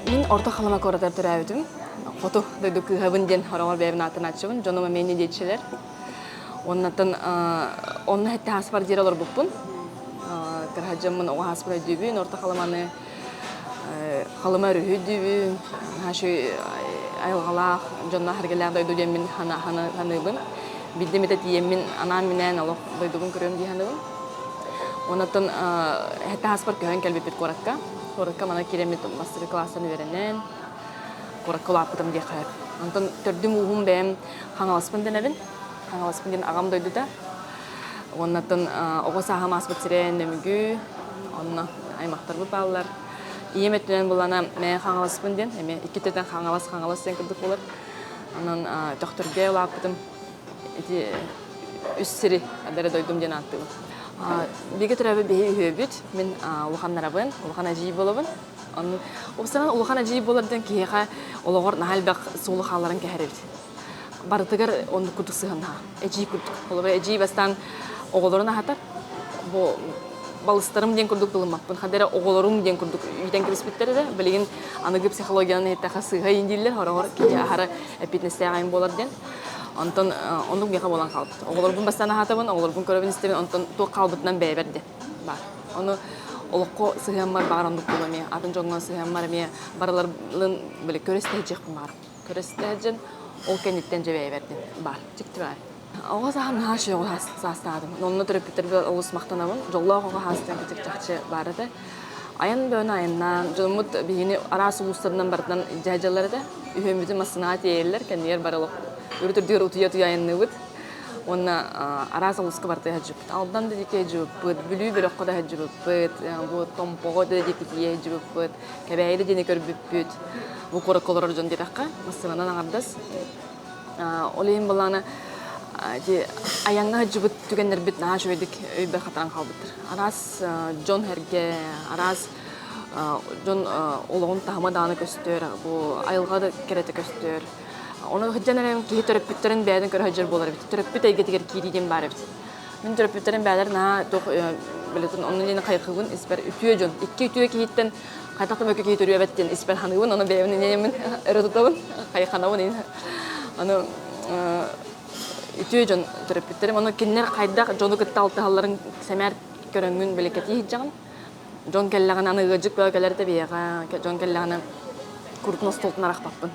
Мин Орто Халыма куоратыгар төрөөбүтүм. Хоту дойду кыыһабын диэн ороҕор бэйэбин аатын ааччыбын. Дьонум эмиэ диэччилэр. Оннаттан онно хэтти хааспар диэри олорбуппун. Кыраһаджаммын оҕо хааспар өйдүүбүн. Орто Халыманы Халыма өрүһү дүүбүн, хашы айылҕалаах дьонно харгылаах дойду диэммин саныыбын. Бидde мите тиеммин анаан минээн олох дойдугун көрүөм дии саныыбын. Онотон хэтэ хаспар көһөн кэлбиппит куоракка. Куоракка мана кииреммит мастары класстан үөрэнэн куоракка улааппытым диэххэ. Онтон төрдүм ууһум бэйэм Хаҥаласпын дэнэбин. Хаҥаласпын диэн аҕам дойдута. Уоннаттан оҕо сааһым ааспыт сирэ Нөмүгү, онно аймахтарбыт бааллар. Ийэм өттүнэн булана мэ хаҥаласпын диэн, эми иккититэн хаҥалас хаҥалас диэн курдук болар. Онон төхтөргө лааппытым ити үс сири бэрэ дойдум диэн ааттыыбын. Бигэ төрөбө биһи үһүөбүт, мин улахан нарабын, улахан ажий болобун. Уопсанан улахан ажий болар диэн киһиэхэ олоҕор наһаа элбэх суулу хааларын кэһэрэбит. барытыгар оннук курдук сыһыаннаһа. Эдьиий курдук. Холобур, эдьиий бастаан оҕолорун аһатар. Бу балыстарым диэн курдук былыммаппын. Хата эрэ оҕолорум диэн курдук иитэн кэбиспиттэр эрэ. Билигин аныгы психологиянан эттэхэ сыыһа иин дииллэр, хороҕор киһи аһара эппиэтинэстээҕин буолар диэн. Онтон оннук миэхэ буолан хаалбыт. Оҕолорбун бастаан аһаатыбын, оҕолорбун көрөбүн-истэбин, онтон туох хаалбытынан бэйэбэр диэн баар. Ону олоххо сыһыаммар баҕар оннук буолуо эмиэ. Атын дьоҥҥо сыһыаммар эмиэ барыларын били көрө истэһиэхпин баҕарабын. көрөстө дьон ол кэнниттэн дьэ бэйэ бэрдин баар чикти баар оҕо саһам наһаа үчүгэй оҕо саастаатым онно төрөппүттэрбэр олус махтанабын дьоллоох оҕо саастан кэтик чахчы баара да айан бөөнө айаннаан дьоммут биһигини араас улуустарынан барытынан дьаһдьаллар этэ үһүөммүтүн массыынаҕа тиэйэллэр кэннигэр бары олох үрүтүрдүгэр утуйа утуйа айанныыбыт уонна араас улуска барыта сылдьыбыппыт алдан да диэки сылдьыбыппыт бүлүү бөлөххө да сылдьыбыппыт бу томпоҕо да диэки тиийэ сылдьыбыппыт Кэбээйигэ диэни көрбүппүт. Бу куоракка олорор дьон диэтэххэ, массыынанан аҥардас. Ол иһин былаана айаҥҥа сылдьыбыт түгэннэрбит наһаа үчүгэйдик өйбөр хатаран хаалбыттар. Араас дьон-сэргэ, араас дьон олоҕун таһыма даҕаны көстөр, бу айылҕа кэрэтэ көстөр. Ону сылдьан эрэ киһи төрөппүттэрин бэйэтин көрө сылдьар буолар эбит. Төрөппүт эйгэтигэр киирии диэн баар эбит. Мин төрөппүттэрим бэйэлэр наһаа туох билетин оннун инэн хайхыбын испэр үтүө дьон икки үтүө киһиттэн хайтах да мөккө киһи төрүөбэт диэн испэр ханыыбын ону бэйэбин инэйэмин өрө тутабын хайханабын инин аны үтүө дьон төрөппүттэрим ону кинилэр хайдах дьону кытта алтыһалларын сэмээр көрөҥҥүн биликкэтии сыдьаҕын Дьон кэллэҕинэ аны ыалдьыт бөҕө кэлэритэ биһиэхэ дьон кэллэҕинэ курутун остуолтан арахпаппын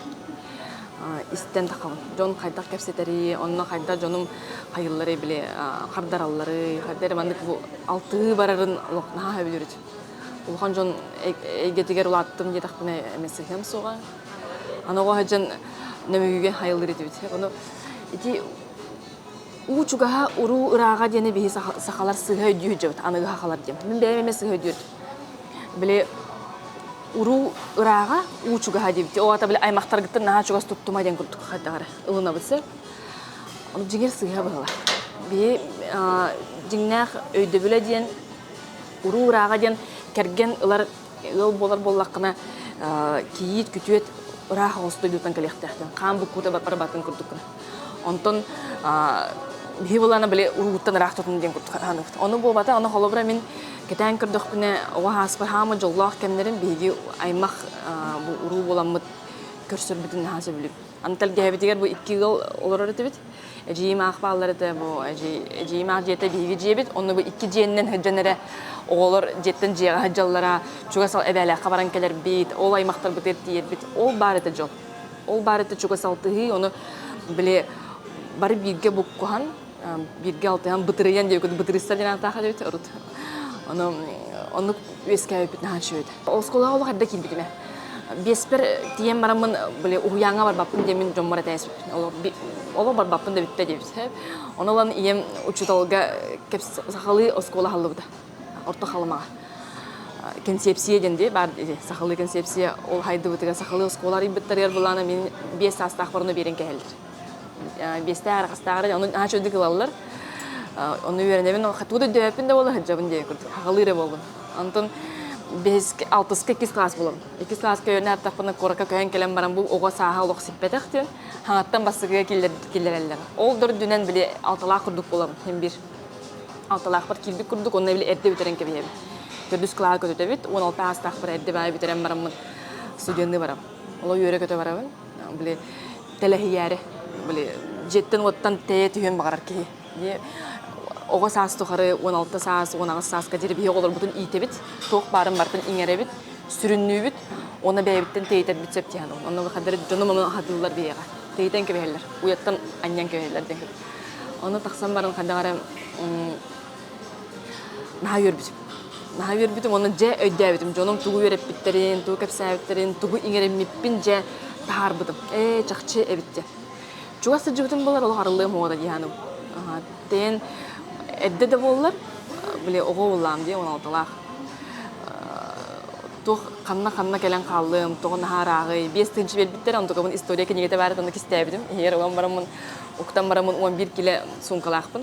истэн тахабын дьон хайдах кэпсэтэрий онно хайдах дьонум хайылларый били хардаралларый хайда эрэ маннык алтыы барарын олох наһаа өбүлүрүт улахан дьон эйгэтигэр улааттым диэтэхпинэ эмэ сыһыам суоҕа аны оҕо сылдьан нөмүгүгэн хайыллар этибит ону ити уу чугаһа уруу ырааҕа диэни биһи сахалар сыһа өйдүү сылдьыбыт аныгы сахалар диэн мин бэйэм эмэ сыһа өйдүүр били уруу ырааҕа уу чугаһа диэбити ол аата били аймахтаргыттан наһаа чугас туттума диэн курдук хайдаҕар ылынабыт сэ ону дьиҥэр сыһа быһыла биһи дьиҥнээх өйдөбүлэ диэн уруу ырааҕа диэн кэргэн ылар ыал буолар буоллаххына кийиит күтүөт ыраах оҕус дойдутан кэлиэхтээхтин хаан буккуута барбатын курдуккун онтон биһи былаана били урууттан ыраах тутун диэн курдук хааныбыт ону буолбата ону холобура мин кэтээн көрдөхпүнэ оҕо ааспыт хаама дьоллоох кэмнэрим биһиги аймах уруу буоламмыт көрсөрбүтүн наһаа сөбүлүбүт Аны тэлгэһэбитигэр бу икки ыал олорор этибит. Эдьиийим аах бааллар этэ, бу эдьиийим аах дьиэтэ биһиги дьиэбит. Онно бу икки дьиэннэн сылдьан эрэ оҕолор дьиэттэн дьиэҕэ сылдьаллара, чугас эбээлээххэ баран кэлэрбит, ол аймахтарбытыгар тиийэрбит. Ол баар этэ дьол. Ол баар этэ чугас алтыһыы, ону били бары бииргэ буккуһан бииргэ алтыһан бытырыйан диэбиккит бытырыйса диэн аатаах эбит урут ону оннук үөскээбиппит наһаа үчүгэй оскуолаҕа олох эрдэ киирбитим биэспэр тиийэн бараммын били уһуйааҥҥа барбаппын диэмин дьоммор этээсиппин олох барбаппын да бүттэ диэбит ону ылан ийэм учууталга сахалыы оскуола аһыллыбыта орто халымаҕа кэнсиэпсийэ диэн дии баар сахалыы кэнсиэпсийэ ол хайдыбытыгар сахалыы оскуола арыйбыттарыгар былаана мин биэс саастаах барыны биэрэн кэһэллэр биэстээх арҕастааҕар ону аача үрдүк ылаллар ону үөрэнэбин тугу да өйдөөбөппүн да буолла сылдьабын диэн курдук аҕалыы эрэ буоллун антон бэһис алтыска иккис класс булабын иккис класска үөрэнэ аттахпына куоракка көһөн кэлэн баран бу оҕо сааһа олох сиппэтэх диэн хаҥаттан бассыгыга киллэрэллэр ол да үрдүнэн били алталаах курдук булабын мин биир алталаахпар киирбит курдук онно били эрдэ бүтэрэн кэбиһэбин төрдүс класс көтүтэбит уон алта аастаахпар эрдэ баай бүтэрэн бараммын студенныы барабын олох үөрэ көтө барабын били тэлэһийээри били дьиэттэн-уоттан тэйэ түһүөн баҕарар киһи оҕо саас тухары он алта саас он аҕыс сааска диэри биһиги оҕолорбутун иитэбит туох баарын бартын иҥэрэбит сүрүннүүбүт уонна бэйэбиттэн тэйитэрбит сөп диһэн онно выходары дьонум ону аһатыыллар биһиэхэ тэйитэн кэбиһэллэр уйаттан анньан кэбиһэллэр диэн ону тахсан баран хайдах эрэ наһаа үөрбүтүм наһаа үөрбүтүм онон дьэ өйдөөбүтүм дьонум тугу үөрэппиттэрин тугу кэпсээбиттэрин тугу иҥэриммиппин дьэ таһаарбытым ээ чахчы эбит дьэ чугас сылдьыбытым болар олох арыллыам уода дыйааным тэйэн эрдэ да буоллар били оҕо уулаам диэн уналыталаах туох ханна ханна кэлэн хааллым тоҕо наһаа ырааҕый биэс тыынчы биэрбиттэр онтукабын история кинигэтэ баара онно кистээбитим иһигэр ылан бараммын уктан бараммын он биир килэ суумкалаахпын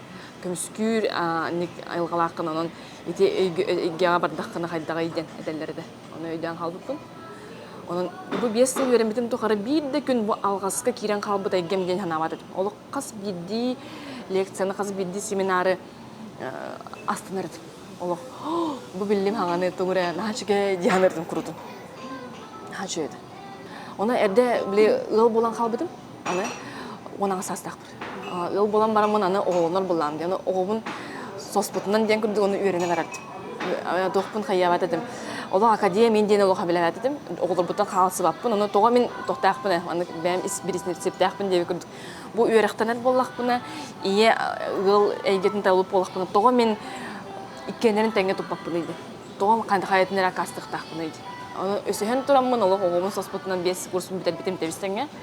көмүскүүр айылҕалааххын онон ити өйгөҕө бардаххына хайдаҕый диэн этэллэр этэ ону өйдөөн хаалбыппын онон бу биэс сыл үөрэммитим тухары биир да күн бу алҕаска киирэн хаалбыт эйгэм диэн санаабат этим олох хас биирдии лекцияны хас биирдии семинары астанар этим олох бу биллим хаҥаны туҥуре наачыгай диэн ырытым курутум наачыйа этэ оны эрдэ били ыал буолан хаалбытым аны унаҕа саастаахпын Ыал буолан бараммын аны оҕолонор буллаам диэн оҕобун соспутунан диэн курдук ону үөрэнэ барардым. Туохпун хайаабат этим. Олох академия мин диэн олоха билээт этим. Оҕолорбуттан хаалсыбаппын. Ону тоҕо мин тохтаахпын э? Аны бэйэм бириснепсиптээхпин диэбит курдук. Бу үөрэхтэнэр буоллахпына, ийэ ыал эйгэтин талып буоллахпына, тоҕо мин иккиэннэрин тэҥҥэ туппаппыный дии. Тоҕо хайатын эрэ акаастыктаахпыный дии. Ону өсөһөн тураммын олох оҕобун соспутунан биэс курсун бүтэрбитим тэбис тэҥҥэ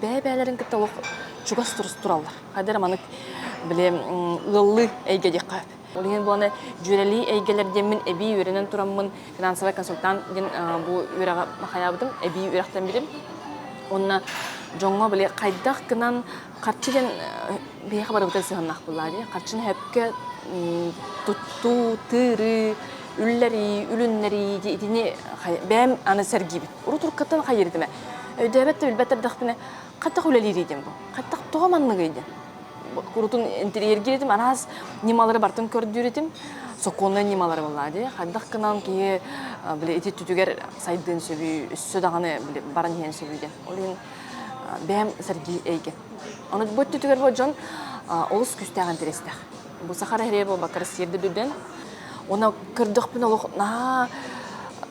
бэйэ-бэйэлэрин кытта олох чугас тураллар. Хайдары маны били ыаллыы эйгэ диэххэ. Олиҥин буоланы дьүөрэлии эйгэлэр диэммин эбии үөрэнэн тураммын финансовый консультант диэн бу үөрэҕи хаяабытым, эбии үөрэхтэн билим. Онна дьоҥҥо били хайдах гынан харчы диэн биһиэхэ барыбытын сыһаннаах буллаа дии. Харчыны сөпкө туттуу, тыырыы, үллэрии, үлүннэрии итини бэйэм аны сэргиибит. урут уруккаттан хайыырытыма өйдөөбөт да билбэт эрдэхпинэ хаттах үлэлиир идем бу хаттах тоҕо маннык идем курутун интерьер киретим араас ньымалары бартын көрдүүрүтүм сокуоннай ньымалары болла ди хардах кынан киһи били ити түтүгэр сайдыын сөбүй үссө даҕаны баран иһэн сөбүй ден ол иһин бэм сэргии эйге ону бу түтүгэр бу дьон олус күстээх интерестэх бу сахара хере буолбакка россияда дүден оны көрдөхпүн олох наа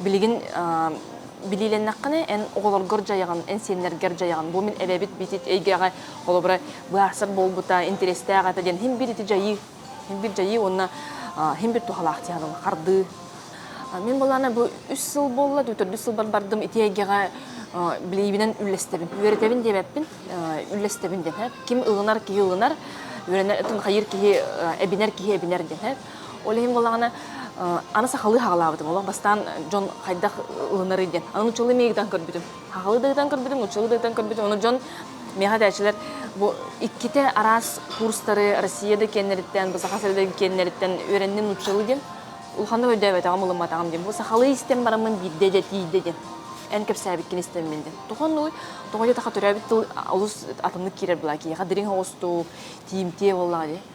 Билигин билиилэннэххинэ эн оҕолоргор дьайаҕын, эн сиэннэргэр дьайаҕын. Бу мин эбэбит битит эйгэҕэ холобура быһаарсар буолбута, интэриэстээх этэ диэн хин бир ити дьайыы, хин бир дьайыы уонна хин бир туһалаах диэн хардыы. Мен балана бу үс сыл болла, төрдүс сылбар бардым ити эйгэҕэ билиибинэн үллэстэбин. Үөрэтэбин диэбэппин, үллэстэбин диэн. Ким ылынар, киһи ылынар, үөрэнэр, хайыр киһи, эбинэр киһи эбинэр диэн. Ол иһин буоллаҕына аны сахалыы хаалаабытым. Олох бастаан дьон хайдах ылынарый диэн. Аны нуччалыы миигитэн көрбүтүм. Сахалыы да ыйтан көрбүтүм, нуччалыы да ыйтан көрбүтүм. Ону дьон миэхэ дэчилэр бу иккитэ араас курстары Россия да киэннэриттэн, бу саха сирэ да киэннэриттэн үөрэнним нуччалыы диэн. Улаханнык өйдөөбөтөҕүм, ылымматаҕым диэн. Бу сахалыы истэн бараммын биирдэ да тиийдэ диэн. Эн кэпсээбиккин истэммин диэн. Тохон нуй тоҕо диэтахха төрөөбүт тыл олус атыннык киирэр буолаа. Киһиэхэ дириҥ оҕустук, тиимтиэ буоллаҕа дии.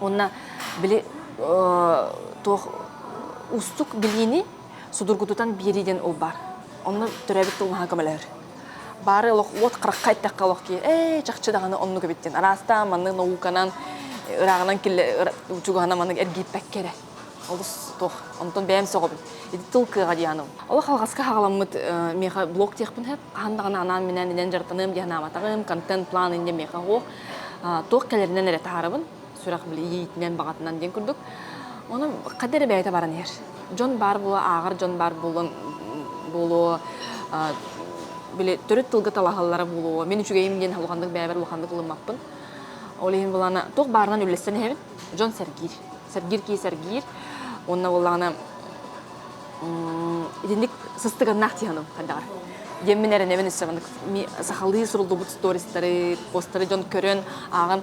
Уонна били туох уустук билиини судургутутан биэрии диэн ол баар. Онно төрөөбүт тылнаһа көмөлөһөр. Бары олох уот харахха эттэххэ олох ки ээ чахчы даҕаны оннук эбиттин араастаан маннык науканан ырааҕынан киллэ чугаһынан маннык эргийпэккэ эрэ Олус туох онтон бэйэм сөҕөбүн. Ити тыл кыаҕа диэхэну. Олох алҕаска хаҕаламмыт меха блог диэхпин сөп. Хаһан даҕаны анаан минээн илэн дьарыктаныам диэн анаабатаҕым. Контент план инде меха уох. Туох кэлэринэн эрэ таһаарабын. Сүрэх билиитинэн баҕатынан диэн курдук. Ону хадда эрэ бэйэтэ баран иһэр. Дьон баар буолуо, ааҕар дьон баар буолуон буолуо били төрүт тылга талаһаллара буолуо. Мин үчүгэйим диэн улаханнык бэйэбэр улаханнык ылыммаппын. Ол иһин булана туох баарынан үллэстэн иһэбин. Дьон сэргиир. сэргиир кии сэргиир уонна буоллаҕына итинник сыстыганнаах тиһаным хайдаҕар диэммин эрэнэбин өссө сахалыы суруллубут стористары постары дьон көрөн ааҕан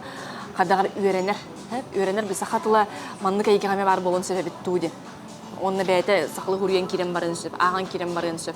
хайдаҕар үөрэнэр үөрэнэр би саха тыла маннык эйгэҕэ баар буолан сөбөбүт дуу диэн онно бэйэтэ сахалыы хуруйан киирэн баран сөп ааҕан киирэн барыан сөп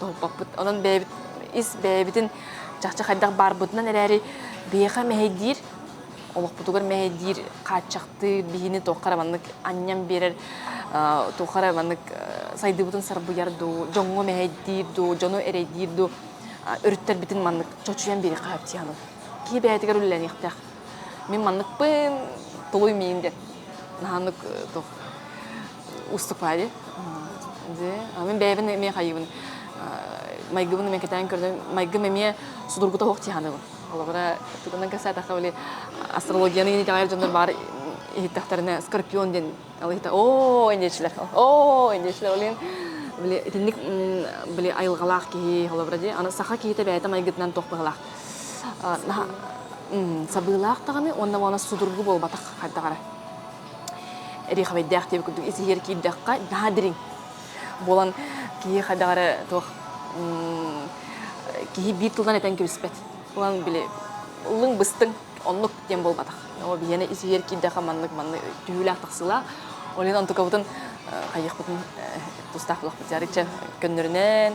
толпоппут. Онон бэйэбит ис бэйэбитин чахчы хайдах баарбытынан эрээри биэхэ мэһэйдиир олохпутугар мэһэйдиир хааччахтыы биһини туохха эрэ маннык анньан биэрэр туохха эрэ маннык сайдыыбытын сарбыйар дуу дьоҥҥо мэһэйдиир дуу дьону эрэйдиир дуу өрүттэрбитин маннык чочуйан биэриэххэ сөп тиһаны киһи бэйэтигэр үлэлэниэхтээх мин манныкпын тулуй миин деп наһаннык уступаайы мин бэйэбин эмиэ хайыыбын майгыбын эмиэ кэтээн көрдüm майгым эмиэ судургута суох тиһаныгын олоҕура тутунан кэсээтахха били астрологияны инитэҕэр дьоннор баар иһиттэхтэринэ скорпион диэн алыһыта оо индиэчилэр оо индиэчилэр олин били итинник били айылҕалаах киһи холобура дии аны саха киһитэ бэйэтэ майгытынан туох быһылаах сабыылаах даҕаны уонна уона судургу буолбатах хайдаҕара Эриховайдаах диэбит курдук исиһиэр киирдэххэ наһаа дириҥ. Буолан киһи хадаҕары туох киһи биир тылынан этэн кэбиспэт. Булан били ыллыҥ быстыҥ оннук диэн буолбатах. Оо биһиэнэ исиһиэр киирдэхэ маннык маннык түһүүлээх тахсыылаах. Олен онтукабытын хайыахпытын тустаах булахпыт жарыча көннөрүнэн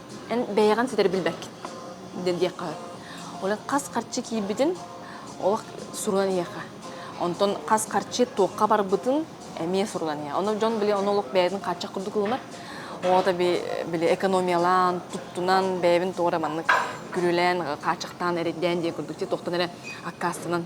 Эн бэйэҕин ситэри билбэккин диэн диэххэ сөп. Ол хас харчы киирбитин олох сурунан иһиэхэ. Онтон хас харчы туохха барбытын эмиэ сурунан иһэ. Ону дьон били ону олох бэйэтин хааччах курдук ылынар. Оҕото били экономиялаан, туттунан, бэйэбин туора маннык күрүөлээн, хааччахтаан, эрэйдээн диэн курдук туохтан эрэ аккаастанан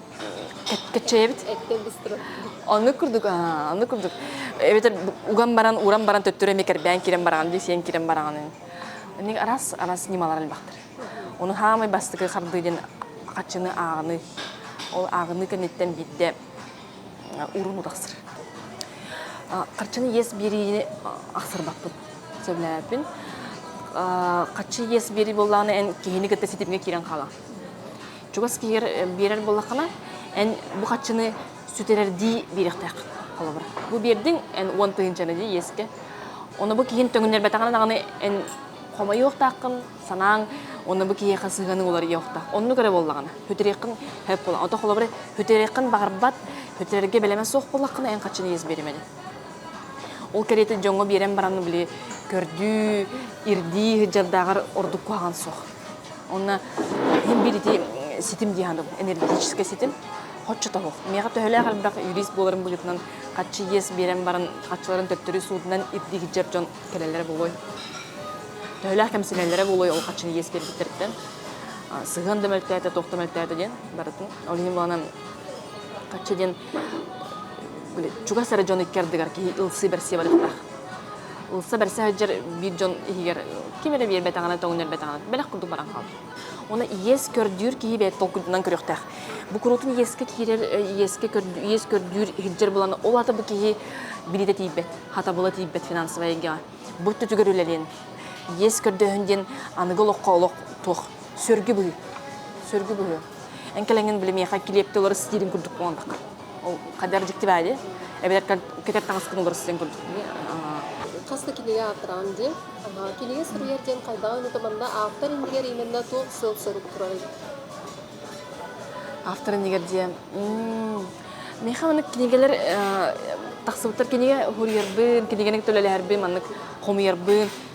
кэччэйэбит оннук курдук оннук курдук эбэтэр уган баран уран баран төттөрү эми кэрбээн кирэн бараҕын дии сиэн кирэн бараҕын ник арас арас ньымалар элбэхтэр ону хаамай бастакы хардыы диэн хаччыны ааҕыны ол ааҕыны кэнниттэн биирдэ урун утахсыр харчыны иэс биэриини ахсырбаппын сөбүлээппин хаччы иэс биэрии буоллаҕына эн киһини кытта ситимҥэ киирэн хаалаҕын чугас киһигэр биэрэр буоллаххына эн бу хаччыны сүтэрэрдии биэриэхтээх холобура бу биэрдиҥ эн уон тыһыынчаны дии иэскэ ону бу киһин төҥүннэрбэтэҕинэ даҕаны эн хомойуохтааххын санааҥ оны бу киһиэхэ сыһыаның уларыйа иһиэхтээх оннук эрэ буоллаҕына бүтүрүөххүн сөп буолла ото холобура бүтүрүөххүн баҕарбат бүтүрэргэ бэлэмэ суох буоллаххына эн хаччыны иэс биэримэдин ол кэриэтэ дьоҥҥо биэрэн баран били көрдүү ирдии сыдьардааҕар ордук куһаҕан суох Онно иһин биирити ситим диһан энергетический ситим хоччотоһу. Мега төһөлөөх элбэх юрист буоларын быһыытынан хаччы иэс биэрэн баран хаччыларын төттөрү суутунан ипдигичер дьон кэлэллэрэ болой. Төһөлөөх кэмсинэллэрэ болой ол хаччын иэс биэрбиттэриттэн сыһыан да мөлтөөтө, тоқ да мөлтөөтө диэн барытын ол иһин буланан хаччы диэн чугас ары дьон иккердигар киһи ылсыы берсие барыктаах. ылса бэрсэ сылдьар биир дьон иһигэр ким эрэ биэрбэтэҕинэ тоҥнербэтэҕинэ бэлэх курдук баран хаалар оны иэс көрдүүр киһи бэйэ толкуйдунан көрүөхтээх бу куруутун иэскэ киирэр иэскэ иэс көрдүүр иһирдьэр булана ол ата бу киһи билиитэ тиийбэт хатабыла тиийбэт финансовай эйгэҕэ бу өттүтүгэр үлэлиэн иэс көрдөһүн диэн аныгы олоххо олох туох сөргү быһыы сөргү быһыы эн кэлэҥин билимиэхэ килиэпте олор стилин курдук буолбакка Хадяр диктивади, эбэтэр кетер таҥаскын уларсыйан курдук. Хас да кинигэ аатыраан диэн, кинигэ суруйар диэн хайдаҕын ытыманда автор индигэр именно туох сыл сорук турар автор иннигэр диэн меха маннык кинигэлэр тахсыбыттар кинигэ хуруйарбын кинигэнин төлөлөһөрбүн маннык хомуйарбын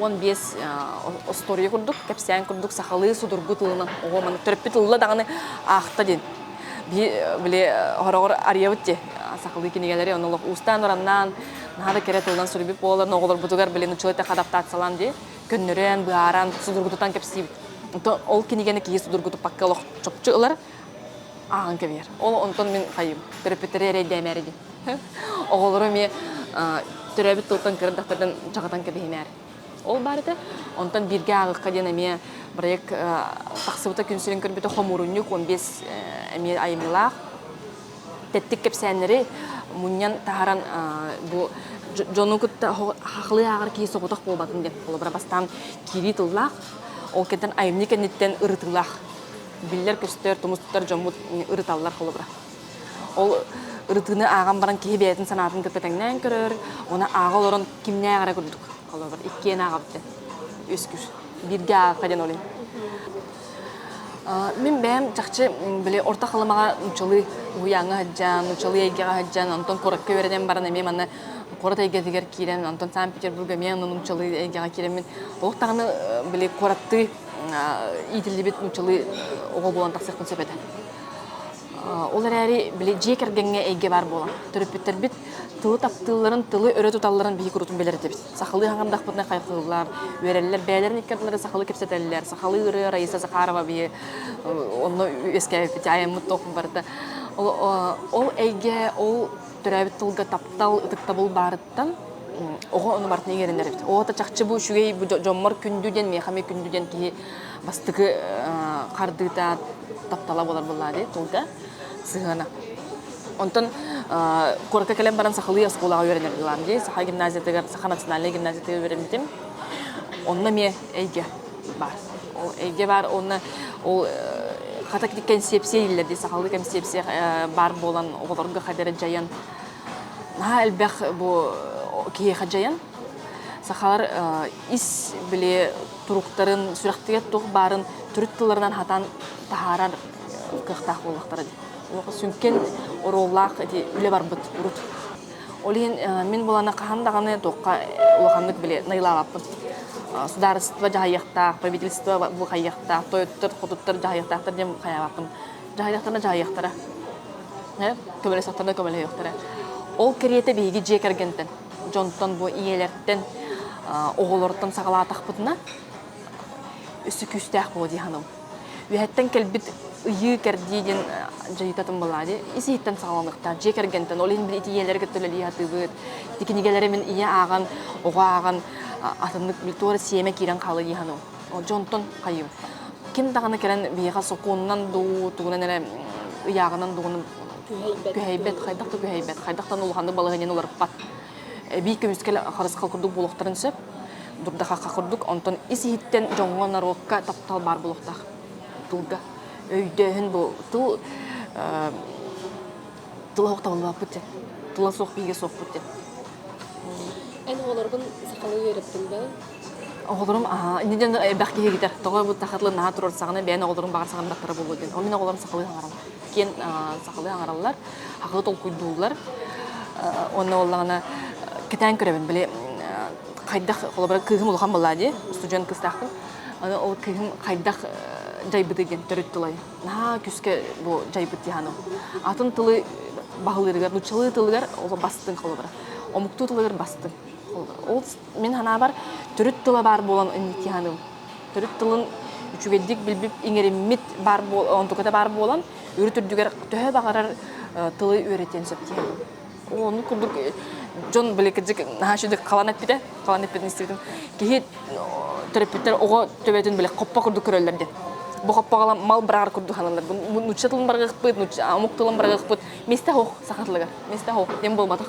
уон биэс остуоруйа курдук, кэпсээн курдук сахалыы судургу тылынан оҕо маны төрөппүт ылла даҕаны аахта диэн. били хороҕор арыйабыт ти сахалыы кинигэлэри оны олох уустаан ораннаан наада кэрэ тылынан суруйбут буолар оҕолорбутугар билин учула теха адаптациялаан дии көннөрөн быһааран судургутутан кэпсиибит ол кинигени киһи судургутуппакка олох чопчу ылар ааҕан кэбиһэр. Ол онтон мин хайым, төрөппүттэрэ эрэйдээмээр ди. Оҕолору эмиэ төрөөбүт тылтан кырдахтардан чаҕытан кэбиһимээр. Ол баар этэ. Онтон бииргэ ааҕыкка диэн эмиэ бырайыак тахсыбыта күн сирин көрбүтэ хомуурунньук уон биэс эмиэ айымньылаах. Тэттик кэпсээннэри мунньан таһаран бу дьону кытта хахлыы ааҕар киһи соҕотох буолбатын диэн холобура бастаан киирии тыллаах. Ол кэнниттэн айымньы кэнниттэн ырытыылаах. биллэр-көстөр, тумус тутар дьоммут ырыталлар холобура. Ол ырытыыны ааҕан баран киһи бэйэтин санаатын көппөтөҥнөөн көрөр, оны ааҕа олорон кимнээх эрэ курдук холобур. Иккиэн ааҕабыттан. Үскүс. Бииргэ аахта диэн олин. Мин бэйэм чахчы били орто халымаҕа нучалыы уһуйааҥҥа сылдьан, нучалыы эйгэҕэ сылдьан, онтон куоракка үөрэнэн баран эмиэ манна куорат эйгэтигэр киирэн, онтон Санкт-Петербурга эмиэ нучалыы эйгэҕэ киирэммин, олох даҕаны били куораттыы иитиллибит нууччалыы оҕо буолан тахсыахпын сөп этэ. Ол эрээри били дьиэ кэргэҥҥэ эйгэ баар буолан төрөппүттэрбит тылы таптыылларын, тылы өрө туталларын биһиги куруутун билэритибит. Сахалыы хаҥырдахпытына хайҕыыллар, үөрэллэр, бэйэлэрин икки ардыларын сахалыы кэпсэтэллэр. Сахалыы ырыа Раиса Захарова биһи онно үөскээбиппит, айаммыт толкун барыта. Ол эйгэ, ол төрөөбүт тылга таптал ытыктабыл баарыттан оҕо ону барытын игэрэнэр эбит оҕото чахчы бу үчүгэй бу дьоммор күндү диэн миэхэ эмиэ күндү диэн киһи бастакы хардыыта таптала буолар буоллаа дии тылга сыһыана онтон куоракка кэлэн баран сахалыы оскуолаҕа үөрэнэрбилаам дии саха гимназиятыгар саха национальнай гимназиятыгар үөрэммитим онно эмиэ эйгэ бар ол эйгэ баар уонна ол хата кэнсиэпсийэ ииллэр дии сахалыы кэнсиэпсийэ баар буолан оҕолорго хадары дьайан наһаа элбэх бу киһиэхэ дьайан сахалар ис били туруктарын сүрэхтигэр туох баарын төрүт тылларынан хатан таһаарар кыахтаах буолуохтара дии сүҥкэн оруоллаах эти үлэ барбыт урут Ол иһин мин буланы хаһан даҕаны туохха улаханнык били найылаабаппын. Судаарыстыба дьаһайыахтаах, правительство бу хайыахтаах, тойоттор, хотуттар дьаһайыахтаахтар диэн хайаабаппын. Дьаһайыахтара дьаһайыахтара. Көмөлөсөхтөрө көмөлөһүөхтэрэ. Ол кэриэтэ биһиги дьиэ кэргэнтэн, дьонтон бу ийэлэртэн, оҕолортон саҕалаатахпытына, өссө күүстээх буолуо дии саныыбын. Үөһэттэн кэлбит ыйыы-кэрдии диэн дьайыытатын балади ис-иһиттэн саҕаланыахтаах. Дьиэ кэргэнтэн, ол иһин били итиийэлэри кытта үлэлии сатыыбыт. Ити кинигэлэри мин ийэ ааҕан, оҕо ааҕан атыннык туора сиэмэ киирэн хаалыы хану. Олдьо онтон хайыым. Ким даҕаны кэлэн биһиэхэ сокуонунан дуу, тугунан эрэ ыйааҕынан дууну күһэйбэт, хайдах да күһэйбэт, хайдах да улаханнык балаһыанньаны уларыппат. Эбии көмүскэл харысхал курдук буолуохтарын сөп. Дурдахахха курдук, онтон ис-иһиттэн дьоҥҥо, норуокка таптал баар буолуохтаах. Тылга өйдөөһүн бу тыл тыла охтобуллубаппыт дьэ. Тула суох биһиге суохпут дьэ. Эн оҕолорбун сахалыы үөрэппитим да? Оҕолорум аа инде дьон элбэх киһи китер. Тоҕо бу тахатылы наһаа турар саҕана бэйэн оҕолорум баҕар саҕана баттара буолуо диэн. Ол мин оҕолорум сахалыы хаҥараллар. киэн сахалыы аҥараллар, сахалыы толкуйдууллар. Онно боллаҕына кэтээн көрөбүн, били хайдах холобура кыыһым улахан буоллаа дии, устудьуон кыстаахпын. Аны ол кыыһым хайдах дьайбыты диэн төрүт тылай. Наһаа күскэ бу дьайбыт диһаным. Атын тылы баһылыырыгар, нуччалыы тылыгар бастыҥ холобура. Омуктуу тылыгар бастыҥ. Ол мин санаабар төрүт тыла баар буолан диһаным төрүт тылын үчүгэйдик билбип иҥэриммит баар буол онтуката баар буолан үрүт үрдүгэр төһө баҕарар тылы үөрэтиэн сөп диэн ону курдук дьон били кырдьык наһаа үчүгэй халан эппитэ халан эппитин истибитим киһи төрөппүттэр оҕо төбөтүн били хоппо курдук көрөллөр диэн бу хоппоҕала мал быраҕар курдук саналлар нуучча тылын барҕыахпыт нуучча омук тылын барҕыахпыт месте ох саха тылыгар месте ох диэн буолбатах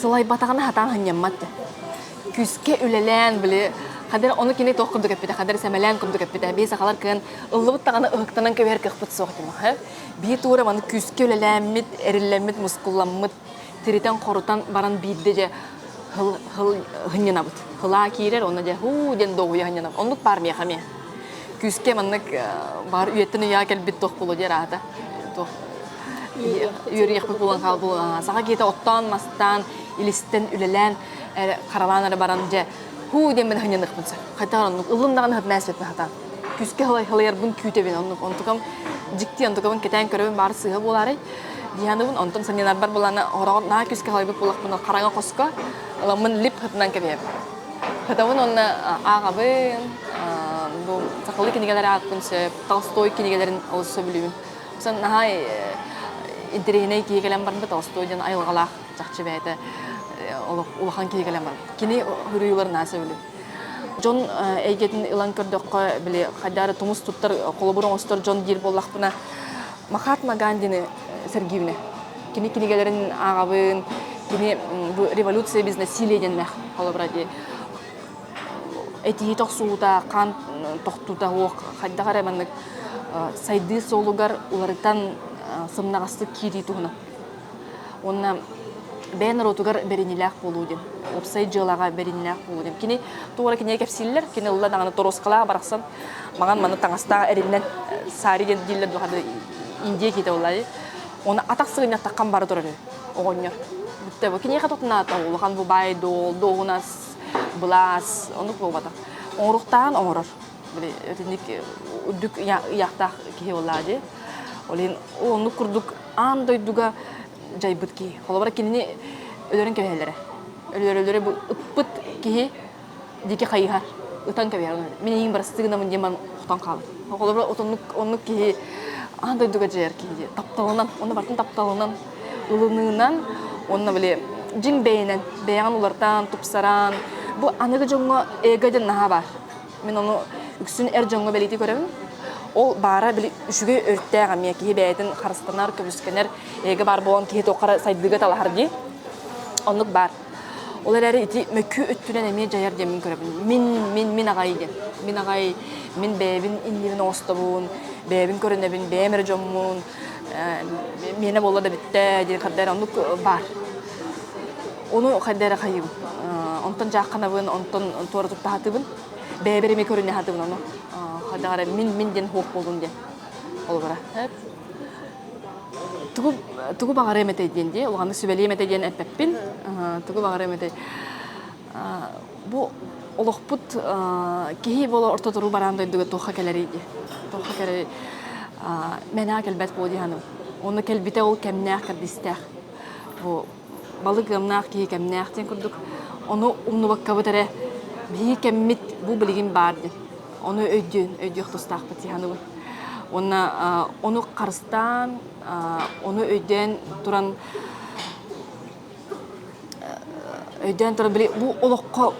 Сылайбатаҕына хатаан ханньаммат. Күүскэ үлэлээн, били, хадыр ону кини туох курдук эппитэ, хадыр сэмэлээн курдук эппитэ. Бии сахалар кыан ыллыбыт даҕаны ыһыктанан кэбиһэр кыахпыт суох этим аһы. Бии туура маны күүскэ үлэлээммит, эриллэммит, мускулламмыт, тиритэн-хорутан баран биирдэ дьэ хыл хыл хынньынабыт. Хылаа киирэр, онно дьэ һуу диэн долгуйа хынньынабыт. Оннук баар миэхэ эмиэ. Күүскэ маннык баар үйэттэн үйэҕэ кэлбит туох буолуо диир аата туох үөрүйэхпит булан хаалбыла саха киһитэ оттоон мастаан илистэн үлэлээн харалаан эрэ баран дьэ хуу диэн мин ханьаныхпын сөп хайта оннук ылыннаҕын хат мээспит хата күскэ халайарбын күүтэбин оннук онтукам дьикти онтукабын кэтээн көрөбүн баар сыыһа буолаарай дианыбын онтон саньынарбар булана ороҕор наа күскэ халайбыт булахпын хараҥа хоско ыламмын лип хытынан кэбиэбин Хотабын уонна ааҕабын, бу сахалыы кинигэлэр аакпын сөп, Толстой кинигэлэрин олус сөбүлүүбүн. Сан наһаа интэриэһинэй киһи кэлэн барбыт Толстой диэн айылҕалаах чахчы бэйэтэ улахан киһи кэлэн барбыт. Кини суруйууларынан сөбүлүүбүн. Дьон эйгэтин ылан көрдөххө, били хайдары тумус туттар холобур оҥостор дьон диир буоллахпына, Махатма Гандины сэргиибинэ. Кини кинигэлэрин ааҕабын, кини бу революция без насилия диэннээх холобура дии этиһит охсуута, хаан тохтуута уох хайдах эрэ маннык сайдыы суолугар уларытан сымнаҕастык киирии туһунан. Уонна бэйэ норуотугар бэринилээх буолуу диэн. Уопсай дьыалаҕа бэринилээх буолуу диэн. Кини туора кинигэ кэпсииллэр, кини ылла даҕаны торуоскалаах барахсан, маҥан маны таҥастаах эриннэн саари диэн дииллэр дуһаны индия киһитэ улай оны атах сыгынньаттаккан бара туран оҕонньор бүтте бу киниэхэ тутунаата улахан бубай дуол дуоһунас былаас онук буолбата оҥоруктаан оҥорор итинник үрдүк ыйаахтаах киһи болаа ди олин оннук курдук аан дойдуга дьайбыт киһи холобура кинини өлөрөн кэбиһэллэрэ өлөрөлөрө ыппыт киһи диэки хайыһар ытан кэбиһэр мин эйиин барыстыы гынамын диэн охтон хаалар холобура отоннук оннук киһи аан дойдуга дьайар киһи диэн тапталынан онно барытын тапталынан ылыныынан онно били дьиҥ бэйэнэн бэйэҕин улартаан тупсараан бу аныгы дьоҥҥо эго диэн наһаа баар мин ону үксүн эр дьоҥҥо бэлиитии көрөбүн ол баара били үчүгэй өрттээх эмиэ киһи бэйэтин харыстанар көбүскэнэр эго баар буолан киһи туохха сайдыыга талаһар дии оннук баар Ол эрээри ити мөккү өттүнэн эмиэ дьайар диэммин көрөбүн. Мин, мин, мин аҕай диэн. Мин аҕай, мин бэйэбин иннибин оҥостобун, бэйэбин көрүнэбин, бэйэм эрэ дьоммун, миэнэ буолла да бүттэ диэн хайда эрэ оннук баар. Ону хайда эрэ хайыыбын. Онтон дьаахханабын, онтон туора туттаһатыбын. Бэйэбэр эмиэ көрүнэ аһатыбын ону. Хайдаҕа эрэ мин, мин диэн хуох буоллун диэн. Холобура. тугу тугу баҕарыам этэй диэн дии улаҕаны сүбэлиэм этэ диэн эппэппин тугу баҕарыам этэй бу олохпут киһи буола ортотору бараан дойдуга туохха кэлэрий дии туохха кэлэрий мэнаа кэлбэт буо дии уонна кэлбитэ ол кэмнээх кэрдистээх бу балык ыамнаах киһи кэмнээх диэн курдук ону умнубаккабыт эрэ биһиги кэммит бу билигин баар диэн ону өйдүөн өйдүөх тустаахпыт сиһаныбын уонна ону харыстаан ону өйдөөн туран өйдөөн туран били бу олоххо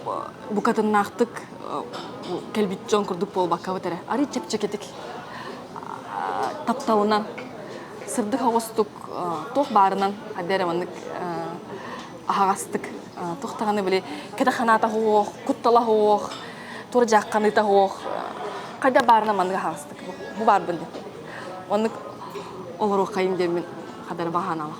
букатыннаахтык кэлбит дьон курдук буолбаккабыт эрэ арыый чэпчэкитик тапталынан сырдык оҕустук туох баарынан хадды эрэ маннык аһаҕастык туох даҕаны били кэтэх санаата суох куттала суох тура дьаахханыыта суох хайда баарынан маннык аһаҕастык бу баарбын диэн оннук олоруоххайым диэммин хадарыма ханаалах